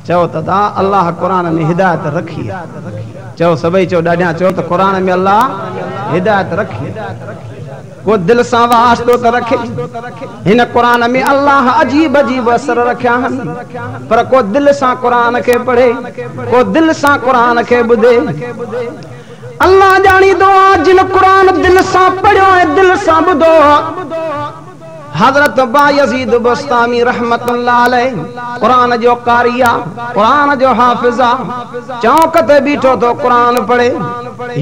چئو ته ادا الله قرآن ۾ هدايت رکي آ چئو سڀئي چئو ڏاڍيان چئو ته قرآن ۾ الله هدايت رکي آ ڪو دل سان واسطو ته رکي هن قرآن ۾ الله عجيب عجيب اسر رکيا آهن پر ڪو دل سان قرآن کي پڙهي ڪو دل سان قرآن کي ٻڌي الله ڄاڻيندو آ جن قرآن دل سان پڙهيو ۽ دل سان ٻڌو آ حضرت بايزيد بسطامي رحمة الله عليه قرآن جو قاري آ، قرآن جو حافظ آ، چونڪ تي بيٺو ٿو قرآن پڙهي،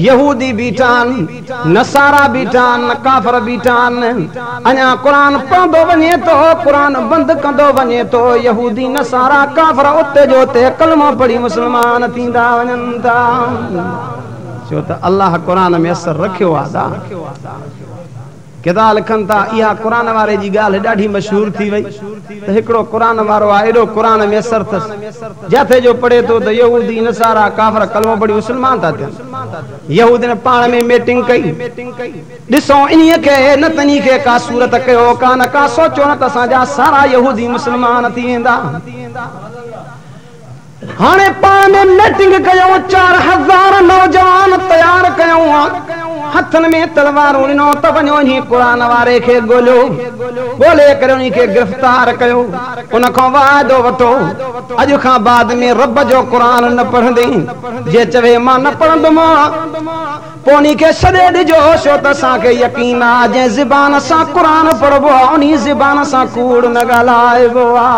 يهودي بيٺا آهن، نصارا بيٺا آهن، ڪافر بيٺا آهن، اڃا قرآن پڙهندو وڃي ٿو، قرآن بند ڪندو وڃي ٿو، يهودي نصارا ڪافر اتي جو اتي ڪلمو پڙهي مسلمان ٿيندا وڃن ٿا، ڇو ته الله قرآن ۾ اثر رکيو آ دا. گدا لکن ٿا، اها قرآن واري جي ڳالهه ڏاڍي مشهور ٿي وئي ته هڪڙو قرآن وارو آ ايڏو قرآن ميسر ٿس، جاٿي جو پڙهي ٿو ته يهودي، نصارا، ڪافر ڪلمو پڙهي مسلمان ٿا ٿين. يهودين پاڻ ۾ ميٽنگ ڪئي. ڏسو انهي کي، نه ته انهي کي ڪا صورت ڪيو، ڪا نه ڪا سوچو نه ته اسان جا سارا يهودي مسلمان ٿي ويندا. هاڻي پاڻ ۾ ميٽنگ ڪيو، چار هزار نوجوان تيار ڪيون، هٿن ۾ تلوارون ڏنو ته وڃو انهي قرآن واري کي ڳوليو، ڳولي ڪري انهي کي گرفتار ڪيو، ان کان وعدو وٺو، اڄ کان بعد ۾ رب جو قرآن نه پڙهندين، جي چوي مان نه پڙهندم، پوء انهي کي ڇڏي ڏجو، ڇو ته اسان کي يقين آ، جنهن زبان سان قرآن پڙهبو آ، انهي زبان سان ڪوڙ نه ڳالهائبو آ.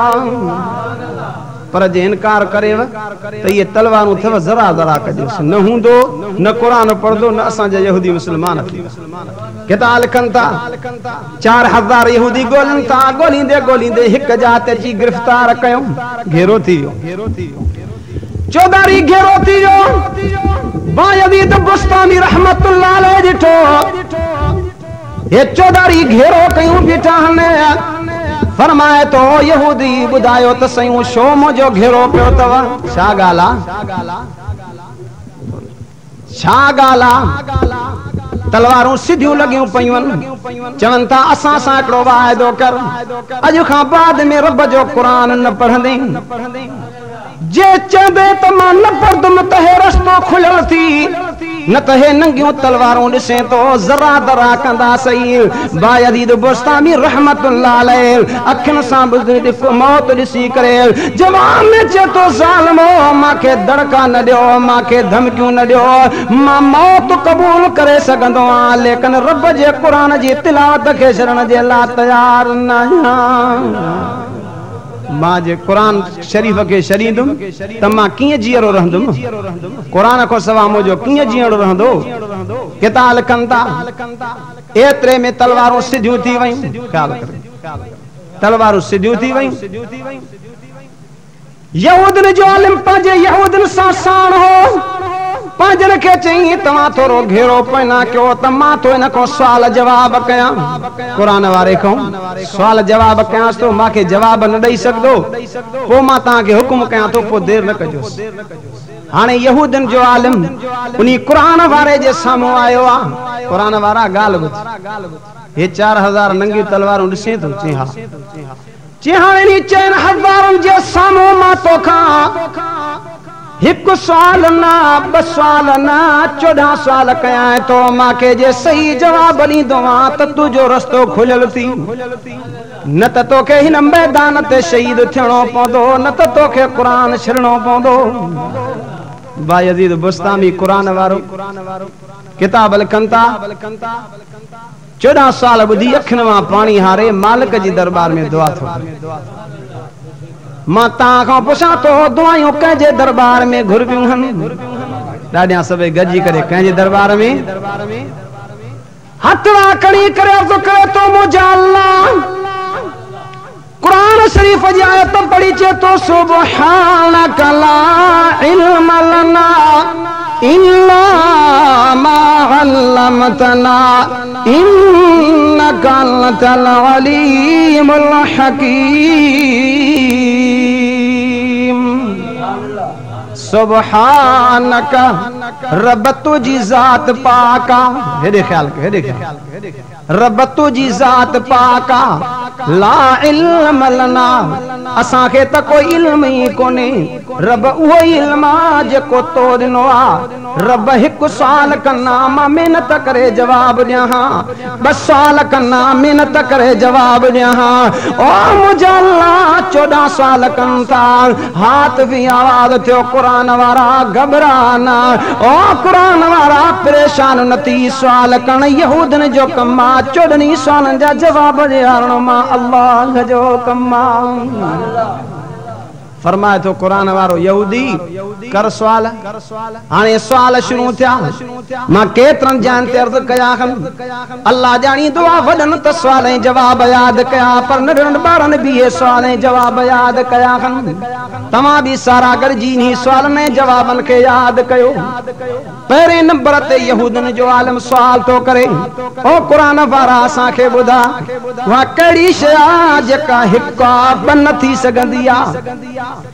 پر جي انڪار ڪريو ته اهي تلوارون اٿيو ذرا ذرا ڪجيس نه هوندو نه قرآن پڙهندو نه اسان جا يهودي مسلمان ٿيندا ڪتاب لکن ٿا چار هزار يهودي ڳولين ٿا ڳوليندي ڳوليندي هڪ جاء تي اچي گرفتار ڪيو گهيرو ٿي ويو چوڌاري گهيرو ٿي ويو بايزيد بسطامي رحمة الله عليه ڏٺو هي چوڌاري گهيرو ڪيون بيٺاهن. فرمائي ٿو، او يهودي! ٻڌايو ته سيون ڇو منهنجو گهيرو ڪيو اٿو؟ ڇا ڳالهه آ؟ ڇا ڳالهه آ؟ تلوارون سڌيون لڳيون پيون چون ٿا، اسان سان هڪڙو واعدو ڪر، اڄ کان بعد ۾ رب جو قرآن نه پڙهندين. جي چئبي ته مان نه پڙهندم ته هي رستو کليل ٿي، نه ته هي ننگيون تلوارون ڏسين ٿو، ذرا ذرا ڪندا سهي. بايزيد بسطامي رحمة الله عليه اکين سان به ڏک موت ڏسي ڪري جواب ۾ چئي ٿو، ظالمو! مان کي دڙڪا نه ڏيو، مان کي ڌمڪيون نه ڏيو، مان موت قبول ڪري سگهندو آهيان، ليڪن رب جي قرآن جي تلاوت کي ڇڏڻ جي لاء تيار ناهيان. مان جي قرآن شريف کي ڇڏيندم ته مان ڪيئن جيئرو رهندم؟ قرآن کان سواء منهنجو ڪيئن جيئڻو رهندو؟ ڪتا لکن ٿا، ايتري ۾ تلوارون سڌيون ٿي ويون. خيال ڪريو. تلوارون سڌيون ٿي ويون. يهودين جو عالم پنهنجي يهودين سان ساڻ هو. پنهنجن کي چيائين، توهان ٿورو گهيرو پوئنا ڪيو ته مان ٿو ان کان سوال جواب ڪيان. قرآن واري کان سوال جواب ڪيانس ٿو، مان کي جواب نه ڏئي سگهندو، پوء مان توهان کي حڪم ڪيان ٿو، پوء دير نه ڪجوس. هاڻي يهودين جو عالم انهي قرآن واري جي سامهون آيو آ. قرآن وارا ڳالهه ٻڌ. هي چار هزار ننگيون تلوارون ڏسين ٿو؟ چيائين، ها. جي هاڻ انهي چئن هزارن جي سامهون مان توکان هڪ سوال نه، ٻه سوال نه، چوڏهن سوال ڪيانء تو مان کي جي صحيح جواب ڏيندو هان ته تنهنجو رستو کليل ٿي. نه ته توکي هن ميدان تي شهيد ٿيڻو پوندو نه ته توکي قرآن ڇڏڻو پوندو. بايزيد بسطامي قرآن وارو ڪتاب لکن ٿا. چوڏهن سال ٻڌي اکين مان پاڻي هاري مالڪ جي درٻار ۾ دعا ٿو گهران. مان تان کان پڇان ٿو دعايون ڪنهن جي درٻار ۾ گهربيون هن؟ ڏاڏيان سڀئي گڏجي ڪري ڪنهن جي درٻار ۾؟ هٿ وانء کڻي ڪري عرض ڪري ٿو منهنجا الله! قرآن شريف جي آيت پڙهي چئي ٿو سبحانک لا علم لنا الا ما علمتنا انک انت العليم الحڪيم سبحانک رب تنهنجي ذات پاڪ آ هيڏي خيال ڪيو هيڏي خيال ڪيو رب تنهنجي ذات پاڪ آ لا علم لنا اسان کي ته ڪو علم ئي ڪونهي رب اهو ئي علم آ جيڪو تو ڏنو آ رب هڪ سوال ڪن آ مان محنت ڪري جواب ڏيان ها ٻه سوال ڪن آ محنت ڪري جواب ڏيان ها او منهنجا الله چوڏهن سوال ڪن ٿا هات ۾ آواز ٿيو قرآن وارا گهٻرا نه او قرآن وارا پريشان نه ٿي سوال ڪرڻ يهودين جو ڪم آ چوڏهني سوالن جا جواب ڏيارڻ مان الله جو ڪم آ. فرمائي ٿو قرآن وارو يهودي ڪر سوال. هاڻي سوال شروع ٿيا. مان ڪيترن جاين تي عرض ڪيا هن. الله ڄاڻي دعا وڏن ته سوال ۽ جواب ياد ڪيا پر ننڍڙن ٻارن به اهي سوال ۽ جواب ياد ڪيا هن. توهان به سارا گڏجي انهي سوالن ۽ جوابن کي ياد ڪيو. پهرين نمبر تي يهودين جو عالم سوال ٿو ڪري، او قرآن وارا اسان کي ٻڌاء اها ڪهڙي شيء آهي جيڪا هڪ آ ٻه نه ٿي سگهندي آ؟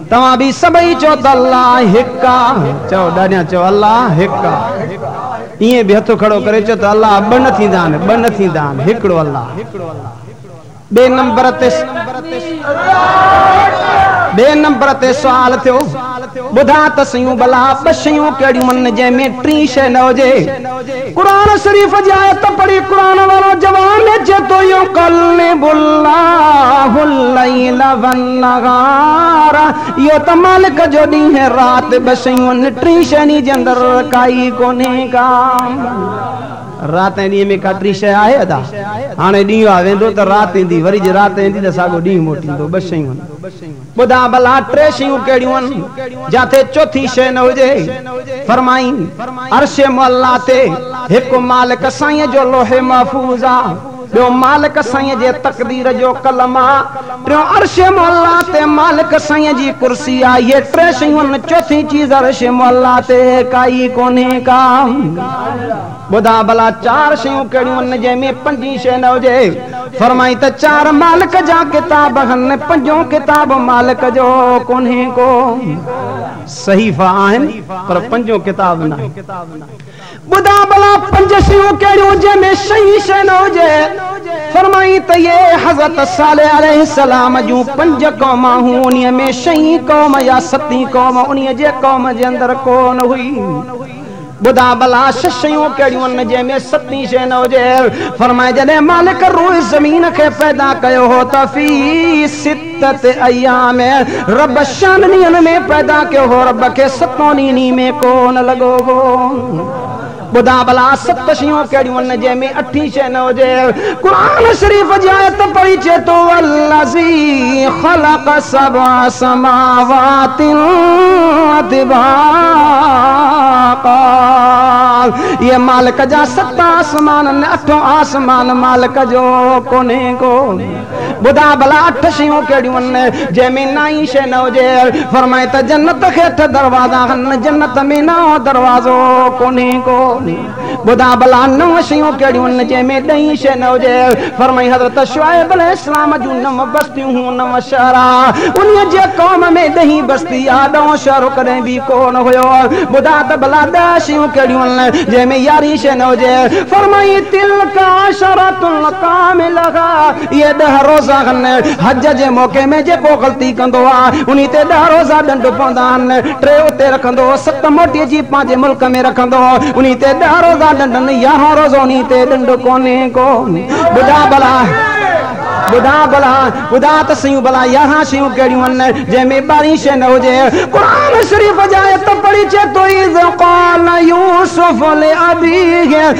توهان به سڀئي چئو ته الله هڪ آ. چئو ڏاڏيان چئو الله هڪ آ. ائين به هٿ کڙو ڪري چئو ته الله ٻه نه ٿيندا آهن، ٻه نه ٿيندا آهن، هڪڙو الله. ٻئي نمبر تي ٻئي نمبر تي سوال ٿيو، ٻڌاء ته سيون ڀلا ٻه شيون ڪهڙيون آهن جنهن ۾ ٽين شيء نه هجي؟ قرآن شريف جي آيت پڙهي قرآن وارو جوان اچي ٿو يقلب الله الليل والنهار اهو ته مالڪ جو ڏينهن رات ٻه شيون ان ٽين شيني جي اندر ڪائي ڪونهي ڪا رات ۽ ڏينهن ۾ ڪا ٽين شيء آهي ادا هاڻي ڏينهن آ ويندو ته رات ايندي وري جي رات ايندي ته ساڳو ڏينهن موٽيندو ٻه شيون ٻڌاء ڀلا ٽي شيون ڪهڙيون آهن جتي چوٿين شيء نه هجي؟ فرمائين، عرش معليٰ تي هڪ مالڪ سائينء جو لوح محفوظ آ، ٻيو مالڪ سائينء جي تقدير جو قلم آ، ٽيون عرش معليٰ تي مالڪ سائينء جي ڪرسي آ، اهي ٽي شيون آهن، چوٿين چيز عرش معليٰ تي ڪائي ڪونهي ڪا. ٻڌاء ڀلا چار شيون ڪهڙيون هن جنهن ۾ پنجين شيء نه هجي؟ فرمائين ته چار مالڪ جا ڪتاب هن، پنجون ڪتاب مالڪ جو ڪونهي ڪو. صحيفا آهن پر پنجون ڪتاب ناهي. ٻڌاء ڀلا پنج شيون ڪهڙيون جنهن ۾ شئين شيء نه هجي؟ فرمائين ته اهي حضرت صالح عليه السلام جون پنج قومان هون انهي ۾ شئين قوم يا ستين قوم انهي جي قوم جي اندر ڪو نه هئي. ٻڌاء ڀلا ڇهه شيون ڪهڙيون آهن جنهن ۾ ستين شيء نه هجي؟ فرمايائين، جڏهن مالڪ الروح زمين کي پيدا ڪيو هو ته في سته ايام، رب شهن ڏينهن ۾ پيدا ڪيو هو، رب کي ستون ڏينهن نينهن ۾ ڪو نه لڳو هو. ٻڌاء ڀلا ست شيون ڪهڙيون آهن جنهن ۾ اٺين شيء نه هجي؟ قرآن شريف جي آيت پڙهي چئي ٿو والذي خلق سبع سماوات طباقا اهي مالڪ جا ست آسمان آهن اٺون آسمان مالڪ جو ڪونهي ڪو ٻڌاء ڀلا اٺ شيون ڪهڙيون آهن جنهن ۾ نائين شيء نه هجي فرمائي ته جنت کي اٺ دروازا آهن جنت ۾ نائون دروازو ڪونهي ڪو ٻڌاء ڀلا نو شيون ڪهڙيون آهن جنهن ۾ ڏهين شيء نه هجي؟ فرمائي حضرت شعيب عليه السلام جون نو بستيون هون نو شهر آ انهي جي قوم ۾ ڏهين بستي آ ڏهون شهر ڪڏهن به ڪونه هيو ٻڌاء ته ڀلا ڏهه شيون ڪهڙيون آهن جنهن ۾ يارهين شيء نه هجي؟ فرمائي تلڪ عشرة ڪاملة اهي ڏهه روزا هن حج جي موقعي ۾ جيڪو غلطي ڪندو آ انهي تي ڏهه روزا ڏنڊ پوندا آهن، ٽي اتي رکندو ست موٽي اچي پنهنجي ملڪ ۾ رکندو انهي تي ڏهه روزا ڏنڊن يارهون روزو انهي تي ڏنڊ ڪونهي ڪو ٻڌاء ڀلا ٻڌاء ڀلا ٻڌاء ته سهيون ڀلا يارهن شيون ڪهڙيون هن جنهن ۾ ٻارهين شيء نه هجي قرآن شريف جا آيت پڙهي چيتوئي اذ قال يوسف لابيه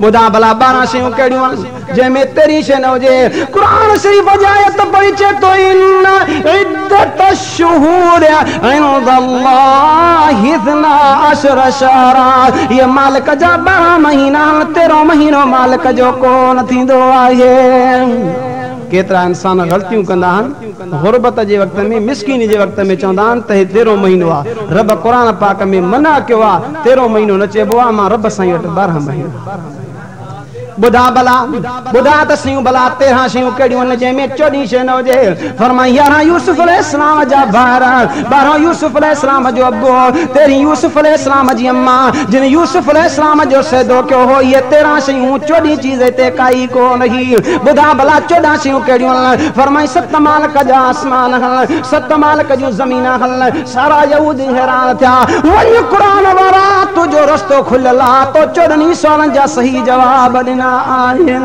ٻڌاء ڀلا ٻارهن شيون ڪهڙيون آهن جنهن ۾ تيرهين شيء نه هجي. قرآن شريف جي آيت پڙهي چئي ٿو ان عدت الشهور عند الله اثنا عشر شهرا اهي مالڪ جا ٻارهن مهينا آهن تيرهون مهينو مالڪ جو ڪو نه ٿيندو آهي. ڪيترا انسان غلطيون ڪندا آهن. غربت جي وقت ۾ مسڪيني جي وقت ۾ چوندا آهن ته هي تيرهون مهينو آ رب قرآن پاڪ ۾ منع ڪيو آ تيرهون مهينو نه چئبو آ امان رب سائين وٽ ٻارهن مهينا ٻڌا ڀلا ٻڌا ته سيون ڀلا تيرهان شيون ڪهڙيون آهن جنهن ۾ چوڏهين شي نه هجي فرمائي يارهان يوسف عليه السلام جا ڀائر ٻارهون يوسف عليه السلام جو ابو تيرهين يوسف عليه السلام جي امان جن يوسف عليه السلام جو سيدو ڪيو هو اهي تيرهان شيون چوڏهين چيز هتي ڪائي ڪونه هي. ٻڌاء ڀلا چوڏهن شيون ڪهڙيون هن؟ فرمائين ست مالڪ جا آسمان هن، ست مالڪ جون زمينان هن. سارا يهودي حيران ٿيا. وڃ قرآن وارا تنهنجو رستو کليل آ، تو چوڏهن ئي سوالن جا صحيح جواب ڏنا آهن.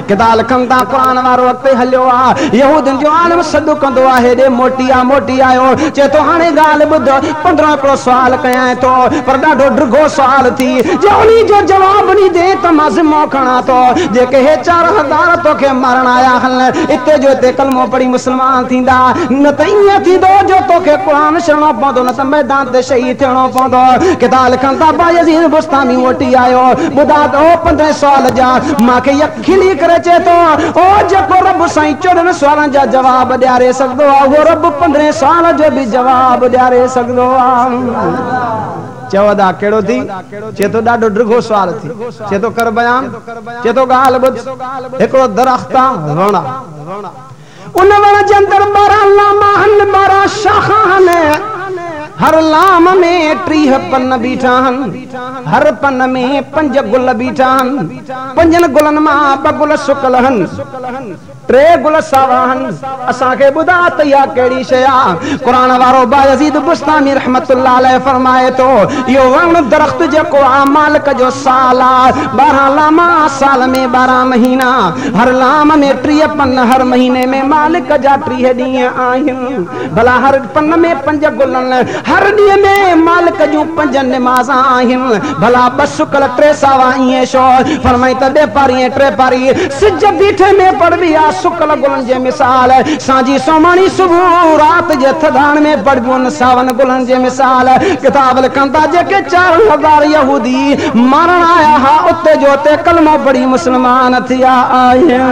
ڪدا لکن تان قرآن وارو اڳتي هليو آ. يهودين جو عالم سڏ ڪندو آ هيڏي موٽي آ موٽي آيو. چئي ٿو هاڻي ڳالهه ٻڌ. پندرهن ڪو سوال ڪيائين ٿو پر ڏاڍو ڊگهو سوال ٿي جي انهي جو جواب ڏيندين ته مان ذمو کڻان ٿو جي ڪي هي چار هزار توکي مارڻ آيا هن اتي جو اتي ڪلمو پڙهي مسلمان ٿيندا نه ته ائين ٿيندو جو توکي قرآن ڇڏڻو پوندو نه ته ميدان تي شهيد ٿيڻو پوندو ڪتاب لکن ٿا بايزيد بسطامي موٽي آيو ٻڌا ته اهو پندرهين سوال جا مان کي يقين کلي ڪري چئي ٿو، او جيڪو رب سائين چوڏهن سوالن جا جواب ڏياري سگهندو آهي، اهو رب پندرهين سوال جو به جواب ڏياري سگهندو آهي. چئو ادا ڪهڙو ٿي؟ چئي ٿو ڏاڍو ڊگهو سوال ٿي. چئي ٿو ڪر بيان. چئي ٿو ڳالهه ٻڌ. هڪڙو درخت آ، وڻ آ. ان وڻ جي اندر ٻارهن لام آهن، ٻارهن شاخ آهن. هر لام ۾ ٽيهه پن بيٺا آهن. هر پن ۾ پنج گل بيٺا آهن. پنجن گلن مان ٻه گل سڪل آهن. ٽي گل ساوا آهن. اسان کي ٻڌاء ته اها ڪهڙي شيء آهي؟ قرآن وارو بايزيد بسطامي رحمة الله عليه فرمائي ٿو، اهو وڻ، درخت، جيڪو آء مالڪ جو سال آهي، ٻارهن لام آهن، سال ۾ ٻارهن مهينا، هر لام ۾ ٽيهه پن، هر مهيني ۾ مالڪ جا ٽيهه ڏينهن آهن. ڀلا هر پن ۾ پنج گلن، هر ڏينهن ۾ مالڪ جون پنج نمازان آهن. ڀلا ٻه سڪل، ٽي ساوا ائين ڇو؟ فرمائين ته ڏهه پاري ۽ ٽي پاري سج بيٺي ۾ پڙهبي آهي. سڪل گلن جي مثال سانجهي سوماڻي صبح رات جي ٿڌاڻ ۾ پڙهبيون ساون گلن جي مثال ڪتاب لکن ٿا جيڪي چارن هزار يهودي مارڻ آيا ها اتي جو اتي ڪلمو پڙهي مسلمان ٿيا آهن.